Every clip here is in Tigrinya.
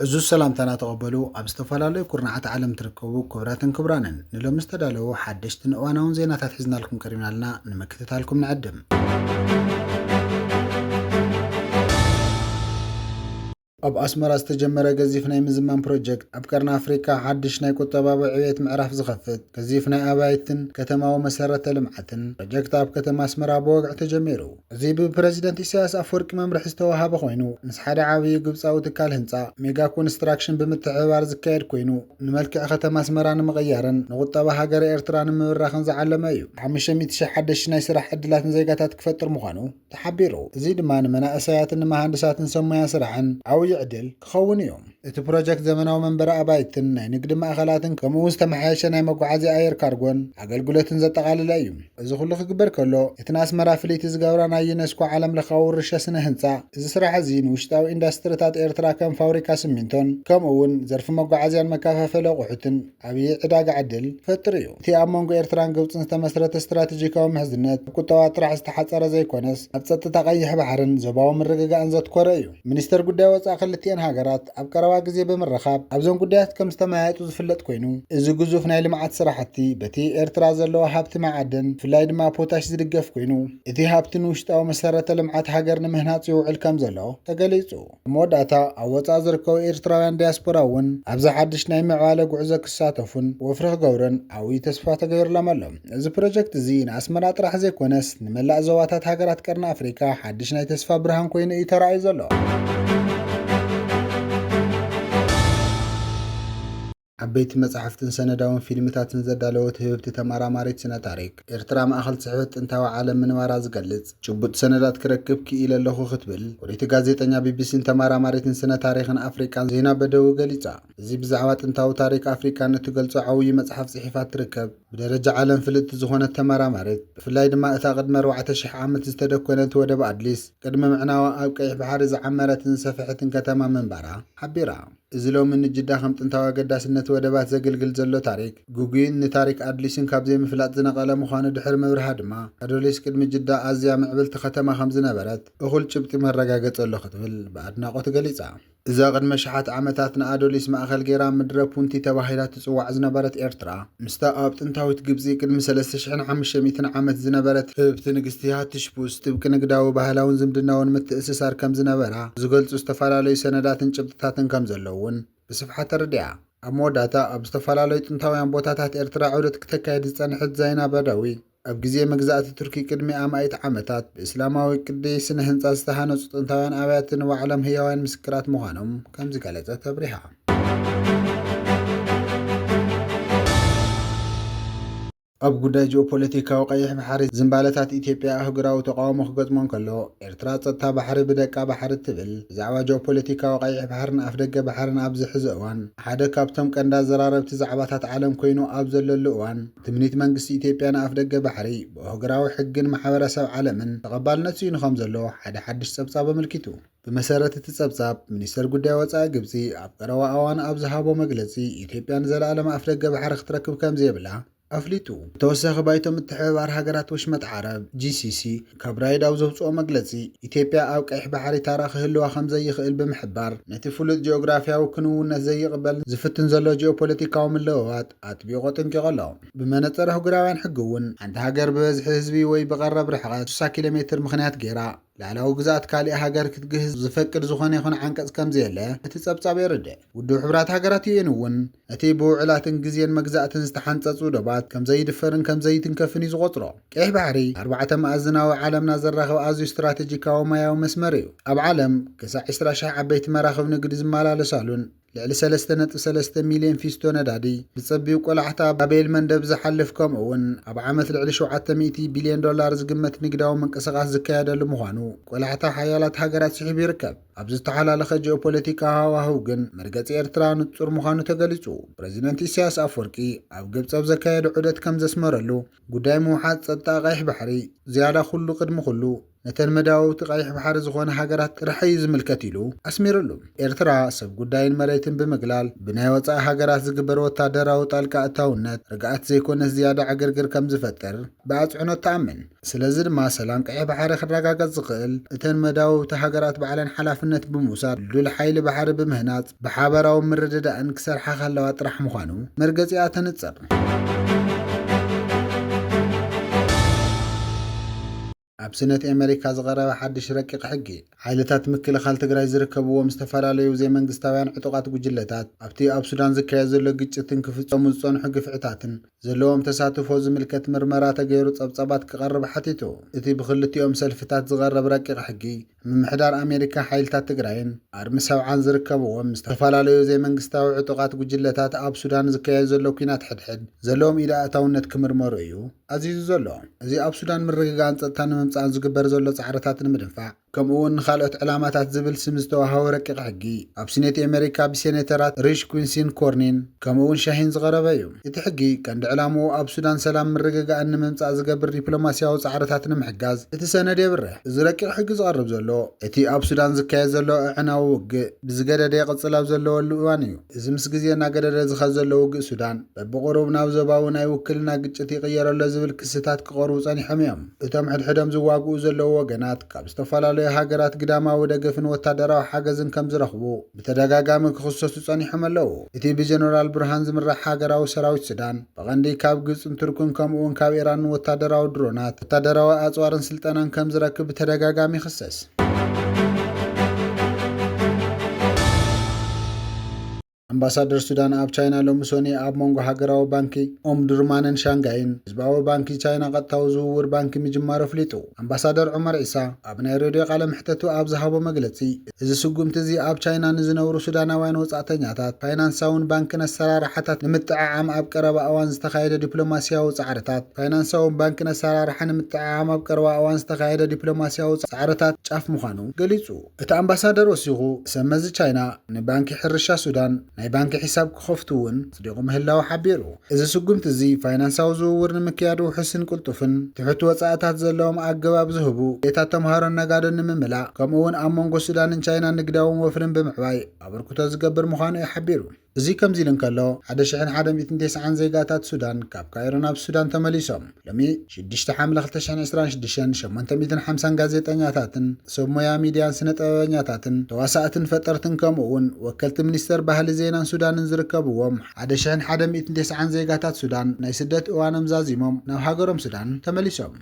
ዕዙዝ ሰላምታና ተቐበሉ ኣብ ዝተፈላለዩ ኩርናዓት ዓለም ትርከቡ ክብራትን ክብራንን ንሎሚ ዝተዳለዉ ሓደሽትን እዋናውን ዜናታት ሒዝናልኩም ቀሪብና ኣለና ንምክትታልኩም ንዕድም ኣብ ኣስመራ ዝተጀመረ ገዚፍ ናይ ምዝማን ፕሮጀክት፣ ኣብ ቀርኒ ኣፍሪቃ ሓድሽ ናይ ቁጠባዊ ዕብየት ምዕራፍ ዝኸፍት ገዚፍ ናይ ኣባይትን ከተማዊ መሰረተ ልምዓትን ፕሮጀክት ኣብ ከተማ ኣስመራ ብወግዒ ተጀሚሩ። እዚ ብፕረዚደንት ኢሳያስ ኣፍወርቂ መምርሒ ዝተወሃበ ኮይኑ፣ ምስ ሓደ ዓብዩ ግብጻዊ ትካል ህንጻ፣ ሜጋ ኮንስትራክሽን፣ ብምትሕብባር ዝካየድ ኮይኑ፣ ንመልክዕ ከተማ ኣስመራ ንምቕያርን ንቁጠባ ሃገረ ኤርትራ ንምብራኽን ዝዓለመ እዩ። ሓሙሽተ ሚእቲ ሽሕ ሓደሽቲ ናይ ስራሕ ዕድላት ንዜጋታት ክፈጥር ምዃኑ፣ ተሓቢሩ። እዚ ድማ ንመናእሰያትን ንመሃንድሳትን ሰብ ሞያ ስራሕን ዓውዪ ዕድል ክኸውን እዩ። እቲ ፕሮጀክት ዘመናዊ መንበሪ ኣባይትን ናይ ንግዲ ማእኸላትን ከምኡ እውን ዝተመሓየሸ ናይ መጓዓዝያ ኣየር ካርጎን ኣገልግሎትን ዘጠቓለለ እዩ። እዚ ኩሉ ክግበር ከሎ እቲ ንኣስመራ ፍልይቲ ዝገብራ ናይ ዩኔስኮ ዓለም ለኻዊ ውርሻ ስነ ህንፃ እዚ ስራሕ እዚ ንውሽጣዊ ኢንዳስትሪታት ኤርትራ ከም ፋውሪካ ስሚንቶን ከምኡ እውን ዘርፊ መጓዓዝያን መከፋፈሊ ኣቑሑትን ዓብዪ ዕዳጋ ዕድል ይፈጥር እዩ። እቲ ኣብ መንጎ ኤርትራን ግብጽን ዝተመስረተ ስትራቴጂካዊ ምሕዝነት፣ ኣብ ቁጠባ ጥራሕ ዝተሓጸረ ዘይኮነስ፣ ኣብ ጸጥታ ቀይሕ ባሕርን ዞባዊ ምርግጋእን ዘትኮረ እዩ። ሚኒስተር ጉዳይ ወጻኢ ክልቲኤን ሃገራት ኣብ ቀረባ ግዜ ብምርኻብ ኣብዞም ጉዳያት ከም ዝተመያየጡ ዝፍለጥ ኮይኑ፣ እዚ ግዙፍ ናይ ልምዓት ስራሕቲ በቲ ኤርትራ ዘለዋ ሃብቲ መዓድን ብፍላይ ድማ ፖታሽ ዝድገፍ ኮይኑ፣ እቲ ሃብቲ ንውሽጣዊ መሰረተ ልምዓት ሃገር ንምህናጽ ይውዕል ከም ዘሎ ተገሊጹ። ኣብ መወዳእታ፣ ኣብ ወጻኢ ዝርከቡ ኤርትራውያን ዲያስፖራ እውን ኣብዚ ሓድሽ ናይ ምዕባለ ጉዕዞ ክሳተፉን ወፍሪ ክገብሩን ዓብዩ ተስፋ ተገይሩሎም ኣሎ። እዚ ፕሮጀክት እዚ ንኣስመራ ጥራሕ ዘይኮነስ ንመላእ ዞባታት ሃገራት ቀርኒ ኣፍሪቃ ሓድሽ ናይ ተስፋ ብርሃን ኮይኑ እዩ ተራእዩ ዘሎ። ዓበይቲ መጻሕፍትን ሰነዳውን ፊልምታትን ዘዳለወት ህብብቲ ተመራማሪት ስነ-ታሪኽ፣ ኤርትራ ማእከል ጽሕፈት ጥንታዊ ዓለም ምንባራ ዝገልጽ ጭቡጥ ሰነዳት ክረክብ ክኢለ ኣለኹ ክትብል ፍልይቲ ጋዜጠኛ ቢቢሲን ተመራማሪትን ስነ-ታሪኽን ኣፍሪቃን ዜና በደዊ ገሊጻ። እዚ ብዛዕባ ጥንታዊ ታሪኽ ኣፍሪቃ ንእትገልጾ ዓውዪ መጽሓፍ ጽሒፋ እትርከብ ብደረጃ ዓለም ፍልጥቲ ዝኾነት ተመራማሪት፣ ብፍላይ ድማ እታ ቅድሚ ኣርባዕተ ሽሕ ዓመት ዝተደኮነት ወደብ ኣድሊስ፣ ቅድሚ ምዕናዋ ኣብ ቀይሕ ባሕሪ ዝዓመረትን ዝሰፈሐትን ከተማ ምንባራ ሓቢራ። እዚ ሎሚ ንጅዳ ከም ጥንታዊ ኣገዳስነት ወደባት ዘግልግል ዘሎ ታሪክ፣ ግጉይን ንታሪክ ኣድሊስን ካብ ዘይምፍላጥ ዝነቐለ ምዃኑ ድሕሪ ምብርሃ ድማ፣ ኣዶሊስ ቅድሚ ጅዳ ኣዝያ ምዕብልቲ ከተማ ከም ዝነበረት እኹል ጭብጢ መረጋገጺ ኣሎ ክትብል ብኣድናቖት ገሊጻ። እዛ ቅድሚ ኣሽሓት ዓመታት ንኣዶሊስ ማእከል ገይራ ምድረ ፑንቲ ተባሂላ ትጽዋዕ ዝነበረት ኤርትራ፣ ምስታ ኣብ ጥንታዊት ግብጺ ቅድሚ ሰለስተ ሽሕን ሓሙሽተ ሚእትን ዓመት ዝነበረት ህብብቲ ንግስቲ ሃትሽፑስ ጥብቂ ንግዳዊ፣ ባህላውን ዝምድናውን ምትእስሳር ከም ዝነበራ ዝገልጹ ዝተፈላለዩ ሰነዳትን ጭብጥታትን ከም ዘለዉን ብስፍሓት ተረዲኣ። ኣብ መወዳእታ፣ ኣብ ዝተፈላለዩ ጥንታውያን ቦታታት ኤርትራ ዑደት ክተካይድ ዝጸንሐት ዛይና ባዳዊ፣ ኣብ ግዜ መግዛእቲ ቱርኪ ቅድሚ ኣማኢት ዓመታት፣ ብእስላማዊ ቅዲ ስነ-ህንጻ ዝተሃንጹ ጥንታውያን ኣብያተ ንባዕሎም ህያውያን ምስክራት ምዃኖም ከም ዝገለጸት ኣብሪሃ። ኣብ ጉዳይ ጂኦፖለቲካዊ ቀይሕ ባሕሪ፣ ዝምባለታት ኢትዮጵያ ኣህጉራዊ ተቓውሞ ክገጥሞ እንከሎ፣ ኤርትራ ጸጥታ ባሕሪ ብደቃ ባሕሪ እትብል፣ ብዛዕባ ጂኦፖለቲካዊ ቀይሕ ባሕርን ኣፍደገ ባሕርን ኣብዚ ሕዚ እዋን ሓደ ካብቶም ቀንዲ ኣዘራረብቲ ዛዕባታት ዓለም ኮይኑ ኣብ ዘለሉ እዋን፣ ትምኒት መንግስቲ ኢትዮጵያ ንኣፍደገ ባሕሪ ብኦህግራዊ ሕግን ማሕበረሰብ ዓለምን ተቐባልነት ስኢኑ ከምዘሎ ሓደ ሓድሽ ጸብጻብ ኣመልኪቱ። ብመሰረት እቲ ጸብጻብ፣ ሚኒስተር ጉዳይ ወጻኢ ግብጺ ኣብ ቀረባ ኣዋን ኣብ ዝሃቦ መግለጺ፣ ኢትዮጵያ ንዘለኣለም ኣፍደገ ባሕሪ ክትረክብ ከምዘየብላ ኣፍሊጡ። ብተወሳኺ ባይቶ ምትሕብባር ሃገራት ወሽመጥ ዓረብ፣ GCC፣ ካብ ራይድ ኣብ ዘውጽኦ መግለጺ፣ ኢትዮጵያ ኣብ ቀይሕ ባሕሪ ታራ ክህልዋ ከምዘይኽእል ብምሕባር፣ ነቲ ፍሉጥ ጂኦግራፍያዊ ክንውነት ዘይቕበልን ዝፍትን ዘሎ ጂኦፖለቲካዊ ምልውዋጥ፣ ኣጥቢቑ ኣጠንቂቑ ኣሎ። ብመነጽር ኣህጉራውያን ሕጊ እውን፣ ሓንቲ ሃገር ብበዝሒ ህዝቢ ወይ ብቐረብ ርሕቐት፣ ሽሳ ኪሎ ሜትር፣ ምኽንያት ገይራ ልኣላዊ ግዝኣት ካሊእ ሃገር ክትግህስ ዝፈቅድ ዝኾነ ይኹን ዓንቀጽ ከምዘየለ እቲ ጸብጻብ የረድእ። ውድብ ሕቡራት ሃገራት፣ UN፣ እውን እቲ ብውዕላትን ግዜን መግዛእትን ዝተሓንጸጹ ዶባት ከምዘይድፈርን ከምዘይትንከፍን እዩ ዝቖጽሮ። ቀይሕ ባሕሪ ኣርባዕተ መኣዝናዊ ዓለምና ዘራኽብ ኣዝዩ ስትራተጂካዊ ማያዊ መስመር እዩ። ኣብ ዓለም ክሳዕ ዕስራ ሽሕ ዓበይቲ መራኽብ ንግዲ ዝመላለሳሉን፣ ልዕሊ ሰለስተ ነጥቢ ሰለስተ ሚልዮን ፊስቶ ነዳዲ ብጸቢብ ቆላሕታ ባቤል መንደብ ዝሓልፍ ከምኡ'ውን ኣብ ዓመት ልዕሊ ሸውዓተ ሚእቲ ቢልዮን ዶላር ዝግመት ንግዳዊ ምንቅስቓስ ዝካየደሉ ምዃኑ ቆላሕታ ሓያላት ሃገራት ስሒቡ ይርከብ። ኣብዚ ዝተሓላለኸ ጂኦፖለቲካዊ ሃዋህው ግን መርገጺ ኤርትራ ንጹር ምዃኑ ተገሊጹ። ፕረዚደንት ኢሳያስ ኣፍወርቂ ኣብ ግብጺ ኣብ ዘካየዶ ዑደት ከም ዘስመረሉ፣ ጉዳይ ምውሓስ ጸጥታ ቀይሕ ባሕሪ ዝያዳ ኩሉ ቅድሚ ኩሉ ነተን መዳውብቲ ቀይሕ ባሕሪ ዝኾና ሃገራት ጥራሕ እዩ ዝምልከት ኢሉ ኣስሚርሉ። ኤርትራ ሰብ ጉዳይን መሬትን ብምግላል ብናይ ወጻኢ ሃገራት ዝግበር ወታደራዊ ጣልቃ እታውነት ርግኣት ዘይኮነስ ዝያዳ ዕግርግር ከምዝፈጥር ብኣጽዕኖት ትኣምን። ስለዚ ድማ ሰላም ቀይሕ ባሕሪ ክረጋገጽ ዝኽእል እተን መዳውብቲ ሃገራት ባዕለን ሓላፍነት ብምውሳድ ድልዱል ሓይሊ ባሕሪ ብምህናጽ፣ ብሓባራዊ ምርድዳእን ክሰርሓ ከለዋ ጥራሕ ምዃኑ መርገጺኣ ተንጽር። ኣብ ስነት ኣመሪካ ዝቐረበ ሓድሽ ረቂቕ ሕጊ ሓይልታት ምክልኻል ትግራይ ዝርከብዎም ዝተፈላለዩ ዘይመንግስታውያን ዕጡቓት ጉጅለታት ኣብቲ ኣብ ሱዳን ዝካየድ ዘሎ ግጭትን ክፍጸሙ ዝጸንሑ ግፍዕታትን ዘለዎም ተሳትፎ ዝምልከት ምርመራ ተገይሩ ጸብጻባት ክቐርብ ሓቲቱ። እቲ ብኽልቲኦም ሰልፍታት ዝቐረብ ረቂቕ ሕጊ፣ ምምሕዳር ኣሜሪካ፣ ሓይልታት ትግራይን ኣርሚ ሰብዓን ዝርከብዎም ዝተፈላለዩ ዘይመንግስታዊ ዕጡቓት ጉጅለታት ኣብ ሱዳን ዝካየድ ዘሎ ኲናት ሕድሕድ ዘለዎም ኢድ ኣእታውነት ክምርመሩ እዩ ኣዚዙ ዘሎ። እዚ ኣብ ሱዳን ምርግጋእን ጸጥታን ንምምጻእን ዝግበር ዘሎ ጻዕርታት ንምድንፋዕ፣ ከምኡ'ውን ንኻልኦት ዕላማታት ዝብል ስም ዝተዋህቦ ረቂቕ ሕጊ፣ ኣብ ስኔት ኤመሪካ ብሴነተራት ሪሽ ኲንሲን ኮርኒን ከምኡ'ውን ሻሂን ዝቐረበ እዩ። እቲ ሕጊ ቀንዲ ዕላምኡ ኣብ ሱዳን ሰላምን ምርግጋእን ንምምጻእ ዝገብር ዲፕሎማስያዊ ጻዕርታት ንምሕጋዝ እቲ ሰነድ የብርህ። እዚ ረቂቕ ሕጊ ዝቐርብ ዘሎ፣ እቲ ኣብ ሱዳን ዝካየድ ዘሎ ኣዕናዊ ውግእ ብዝገደደ ይቕጽል ኣብ ዘለወሉ እዋን እዩ። እዚ ምስ ግዜ እናገደደ ዝኸድ ዘሎ ውግእ ሱዳን፣ በብቑሩብ ናብ ዞባዊ ናይ ውክልና ግጭት ይቕየር ኣሎ ዝብል ክስታት ክቐርቡ ጸኒሖም እዮም። እቶም ሕድሕዶም ዝዋግኡ ዘለዉ ወገናት፣ ካብ ዝተፈላለዩ ሃገራት ግዳማዊ ደገፍን ወታደራዊ ሓገዝን ከም ዝረኽቡ ብተደጋጋሚ ክኽሰሱ ጸኒሖም ኣለዉ። እቲ ብጀነራል ቡርሃን ዝምራሕ ሃገራዊ ሰራዊት ሱዳን፣ ብቐንዲ ካብ ግብጽን ቱርክን ከምኡ'ውን ካብ ኢራንን ወታደራዊ ድሮናት፣ ወታደራዊ ኣጽዋርን ስልጠናን ከም ዝረክብ ብተደጋጋሚ ይኽሰስ። ኣምባሳደር ሱዳን ኣብ ቻይና ሎሚ ሰኑይ ኣብ መንጎ ሃገራዊ ባንኪ ኦምዱርማንን ሻንጋይን ህዝባዊ ባንኪ ቻይና ቀጥታዊ ዝውውር ባንኪ ምጅማሩ ኣፍሊጡ። ኣምባሳደር ዑመር ዒሳ ኣብ ናይ ሬድዮ ቃለ መሕተቱ ኣብ ዝሃቦ መግለጺ፣ እዚ ስጉምቲ እዚ ኣብ ቻይና ንዝነብሩ ሱዳናውያን ወጻእተኛታት ፋይናንሳውን ባንክን ኣሰራርሓታት ንምጥዕዓም ኣብ ቀረባ እዋን ዝተኻየደ ዲፕሎማሲያዊ ጻዕርታት ፋይናንሳውን ባንክን ኣሰራርሓ ንምጥዕዓም ኣብ ቀረባ እዋን ዝተኻየደ ዲፕሎማሲያዊ ጻዕርታት ጫፍ ምዃኑ ገሊጹ። እቲ ኣምባሳደር ወሲኹ፣ ሰብ መዚ ቻይና ንባንኪ ሕርሻ ሱዳን ናይ ባንኪ ሒሳብ ክኸፍቱ እውን ኣጽዲቑ ምህላዉ ሓቢሩ። እዚ ስጉምቲ እዚ ፋይናንሳዊ ዝውውር ንምክያድ ውሑስን ቅልጡፍን ትሑት ወጻእታት ዘለዎም ኣገባብ ዝህቡ ድሌታት ተምሃሮን ነጋዶን ንምምላእ ከምኡ'ውን ኣብ መንጎ ሱዳንን ቻይናን ንግዳዊ ወፍርን ብምዕባይ ኣበርክቶ ዝገብር ምዃኑ'ዩ ሓቢሩ። እዚ ከምዚ'ሉ እንከሎ፣ ሓደ ሽሕን ሓደ ሚእትን ቴስዓን ዜጋታት ሱዳን ካብ ካይሮ ናብ ሱዳን ተመሊሶም። ሎሚ ሽዱሽተ ሓምለ ክልተ ሽሕን ዕስራን ሽዱሽተን ሸሞንተ ሚእትን ሓምሳን ጋዜጠኛታትን ሰብ ሞያ ሚድያን ስነ ጥበበኛታትን ተዋሳእትን ፈጠርትን ከምኡ እውን ወከልቲ ሚኒስተር ባህሊ ዜናን ሱዳንን ዝርከብዎም ሓደ ሽሕን ሓደ ሚእትን ተስዓን ዜጋታት ሱዳን ናይ ስደት እዋኖም ዛዚሞም ናብ ሃገሮም ሱዳን ተመሊሶም።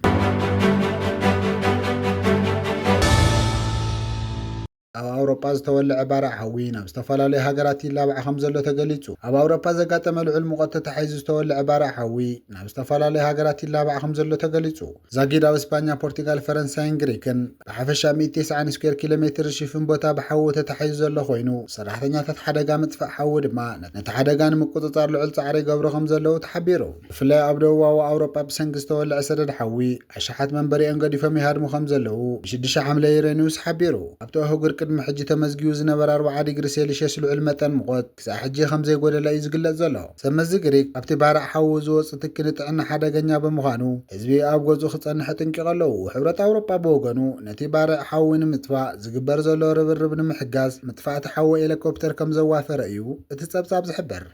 ኣብ ኣውሮጳ ዝተወልዐ ባርዕ ሓዊ ናብ ዝተፈላለዩ ሃገራት ይላባዕ ከምዘሎ ተገሊጹ። ኣብ ኣውሮጳ ዘጋጠመ ልዑል ሙቐት ተታሒዙ ዝተወልዐ ባርዕ ሓዊ ናብ ዝተፈላለዩ ሃገራት ይላባዕ ከምዘሎ ተገሊጹ። ዛጊድ ኣብ እስፓኛ፣ ፖርቲጋል፣ ፈረንሳይን ግሪክን ብሓፈሻ ሚእቲ ተስዓን ስኩዌር ኪሎ ሜትር ዝሽፍን ቦታ ብሓዊ ተታሒዙ ዘሎ ኮይኑ፣ ሰራሕተኛታት ሓደጋ ምጥፋእ ሓዊ ድማ ነቲ ሓደጋ ንምቁጽጻር ልዑል ጻዕሪ ይገብሩ ከምዘለዉ ተሓቢሩ። ብፍላይ ኣብ ደቡባዊ ኣውሮጳ ብሰንኪ ዝተወልዐ ሰደድ ሓዊ፣ ኣሽሓት መንበሪኦም ገዲፎም ይሃድሙ ከምዘለዉ ብሽዱሽተ ሓምለ ዩሮኒውስ ሓቢሩ። ኣብቲ ኣህጉር ቅድሚ ሕጂ ተመዝጊቡ ዝነበረ ኣርብዓ ዲግሪ ሴሊሸስ ልዑል መጠን ሙቐት፣ ክሳዕ ሕጂ ከምዘይጎደለ እዩ ዝግለጽ ዘሎ። ሰብ መዚ ግሪክ፣ ኣብቲ ባርዕ ሓዊ ዝወጽእ ትኪ ንጥዕና ሓደገኛ ብምዃኑ፣ ህዝቢ ኣብ ገዝኡ ክጸንሕ ኣጠንቂቑ ኣለዉ። ሕብረት ኣውሮጳ ብወገኑ፣ ነቲ ባርዕ ሓዊ ንምጥፋእ ዝግበር ዘሎ ርብርብ ንምሕጋዝ፣ መጥፋእቲ ሓዊ ኤለኮፕተር ከምዘዋፈረ እዩ እቲ ጸብጻብ ዝሕብር።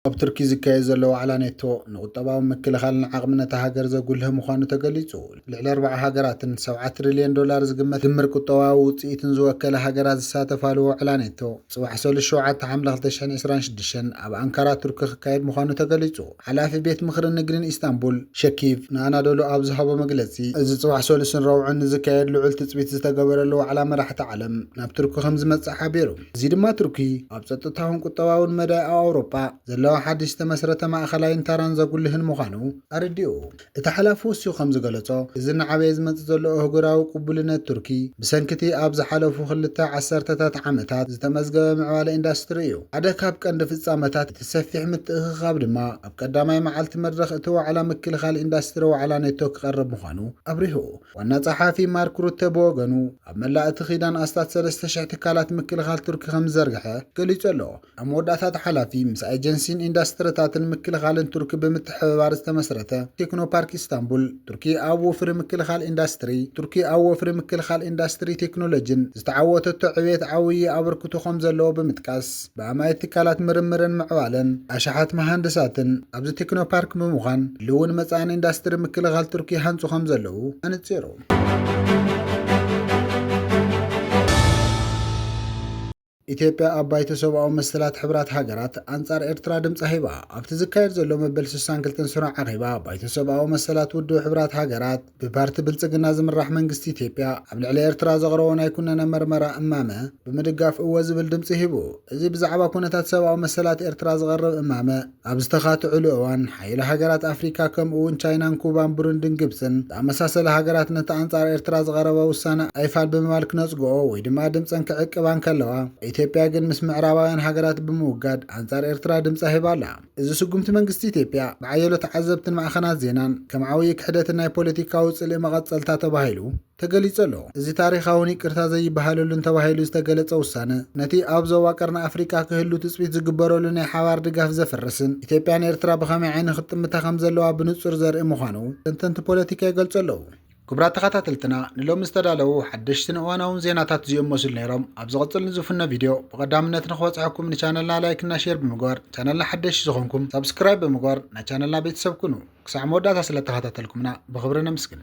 ኣብ ቱርኪ ዝካየድ ዘሎ ዋዕላ ኔቶ ንቁጠባዊ ምክልኻልን ዓቕምን እታ ሃገር ዘጉልህ ምዃኑ ተገሊጹ። ልዕሊ ኣርባዓ ሃገራትን ሰብዓ ትሪልዮን ዶላር ዝግመት ድምር ቁጠባዊ ውጽኢትን ዝወከላ ሃገራት ዝሳተፋሉ ዋዕላ ኔቶ ጽባሕ ሰሉስ ሸውዓተ ሓምለ ክልተ ሽሕን ዕስራን ሽዱሽተን ኣብ ኣንካራ ቱርኪ ክካየድ ምዃኑ ተገሊጹ። ሓላፊ ቤት ምኽሪ ንግድን ኢስታንቡል፣ ሸኪቭ ንኣናዶሉ ኣብ ዝሃቦ መግለጺ፣ እዚ ጽባሕ ሰሉስን ረቡዕን ንዝካየድ ልዑል ትጽቢት ዝተገበረሉ ዋዕላ መራሕቲ ዓለም ናብ ቱርኪ ከምዝመጽእ ሓቢሩ። እዚ ድማ ቱርኪ ኣብ ጸጥታውን ቁጠባውን መዳይ ኣብ ኣውሮጳ ዘለዋ ሓድሽ ዝተመስረተ ማእከላይን ተራን ዘጉልህን ምዃኑ ኣረዲኡ። እቲ ሓላፊ ወሲኹ ከም ዝገለጾ፣ እዚ እናዓበየ ዝመጽእ ዘሎ ኣህጉራዊ ቅቡልነት ቱርኪ፣ ብሰንኪ'ቲ ኣብ ዝሓለፉ ክልተ ዓሰርተታት ዓመታት ዝተመዝገበ ምዕባለ ኢንዳስትሪ እዩ። ሓደ ካብ ቀንዲ ፍጻመታት እቲ ሰፊሕ ምትእኽኻብ ድማ፣ ኣብ ቀዳማይ መዓልቲ መድረኽ እቲ ዋዕላ ምክልኻል ኢንዳስትሪ ዋዕላ ኔቶ ክቐርብ ምዃኑ ኣብሪሁ። ዋና ጸሓፊ ማርክ ሩተ ብወገኑ፣ ኣብ መላእ እቲ ኪዳን ኣስታት ሰለስተ ሽሕ ትካላት ምክልኻል ቱርኪ ከም ዝዘርግሐ ገሊጹ ኣሎ። ኣብ መወዳእታ እቲ ሓላፊ ምስ ኤጀንሲን ኢንዳስትሪታትን ምክልኻልን ቱርኪ ብምትሕብባር ዝተመስረተ ቴክኖ ፓርክ ኢስታንቡል ቱርኪ ኣብ ወፍሪ ምክልኻል ኢንዳስትሪ ቱርኪ ኣብ ወፍሪ ምክልኻል ኢንዳስትሪ ቴክኖሎጂን ዝተዓወተቶ ዕብየት ዓብዪ ኣበርክቶ ከምዘለዎ ብምጥቃስ ብኣማኢት ትካላት ምርምርን ምዕባለን ኣሽሓት መሃንድሳትን ኣብዚ ቴክኖ ፓርክ ብምዃን ህልውን መፃእን ኢንዳስትሪ ምክልኻል ቱርኪ ይሃንፁ ከምዘለዉ ኣነፂሩ። ኢትዮጵያ ኣብ ባይቶ ሰብኣዊ መሰላት ሕብራት ሃገራት ኣንጻር ኤርትራ ድምጻ ሂባ። ኣብቲ ዝካየድ ዘሎ መበል ስሳን ክልተን ስሩዕ ኣኼባ ባይቶ ሰብኣዊ መሰላት ውድብ ሕብራት ሃገራት፣ ብፓርቲ ብልጽግና ዝምራሕ መንግስቲ ኢትዮጵያ ኣብ ልዕሊ ኤርትራ ዘቕረቦ ናይ ኩነነ መርመራ እማመ ብምድጋፍ እወ ዝብል ድምጺ ሂቡ። እዚ ብዛዕባ ኩነታት ሰብኣዊ መሰላት ኤርትራ ዝቐርብ እማመ፣ ኣብ ዝተኻትዑሉ እዋን፣ ሓይሊ ሃገራት ኣፍሪካ ከምኡ'ውን ቻይናን ኩባን ብሩንድን ግብፅን ዝኣመሳሰላ ሃገራት ነቲ ኣንፃር ኤርትራ ዝቐረበ ውሳነ ኣይፋል ብምባል ክነፅግኦ ወይ ድማ ድምፀን ክዕቅባ እንከለዋ፣ ኢትዮጵያ ግን ምስ ምዕራባውያን ሃገራት ብምውጋድ ኣንፃር ኤርትራ ድምፃ ሂባ ኣላ። እዚ ስጉምቲ መንግስቲ ኢትዮጵያ ብሓየሎ ተዓዘብትን ማዕኸናት ዜናን ከም ዓውዪ ክሕደትን ናይ ፖለቲካዊ ፅልኢ መቐፀልታ ተባሂሉ፣ ተገሊጹ ኣሎ። እዚ ታሪኻውን ይቅርታ ዘይበሃለሉን ተባሂሉ ዝተገለጸ ውሳነ፣ ነቲ ኣብ ዞባ ቀርኒ ኣፍሪቃ ክህሉ ትጽቢት ዝግበረሉ ናይ ሓባር ድጋፍ ዘፍርስን፣ ኢትዮጵያ ንኤርትራ ብኸመይ ዓይኒ ክትጥምታ ከምዘለዋ ብንጹር ዘርኢ ምዃኑ ተንተንቲ ፖለቲካ ይገልጹ ኣለዉ። ክቡራት ተኸታተልትና ንሎሚ ዝተዳለዉ ሓደሽትን እዋናውን ዜናታት እዚኦም መስሉ ነይሮም። ኣብ ዝቕጽል ንዝፍኖ ቪድዮ ብቐዳምነት ንኽበጽሐኩም ንቻነልና ላይክ እና ሼር ብምግባር ቻነልና ሓደሽቲ ዝኾንኩም ሳብስክራይብ ብምግባር ናይ ቻነልና ቤተሰብ ኩኑ። ክሳዕ መወዳእታ ስለእተኸታተልኩምና ብኽብሪ ነምስግን።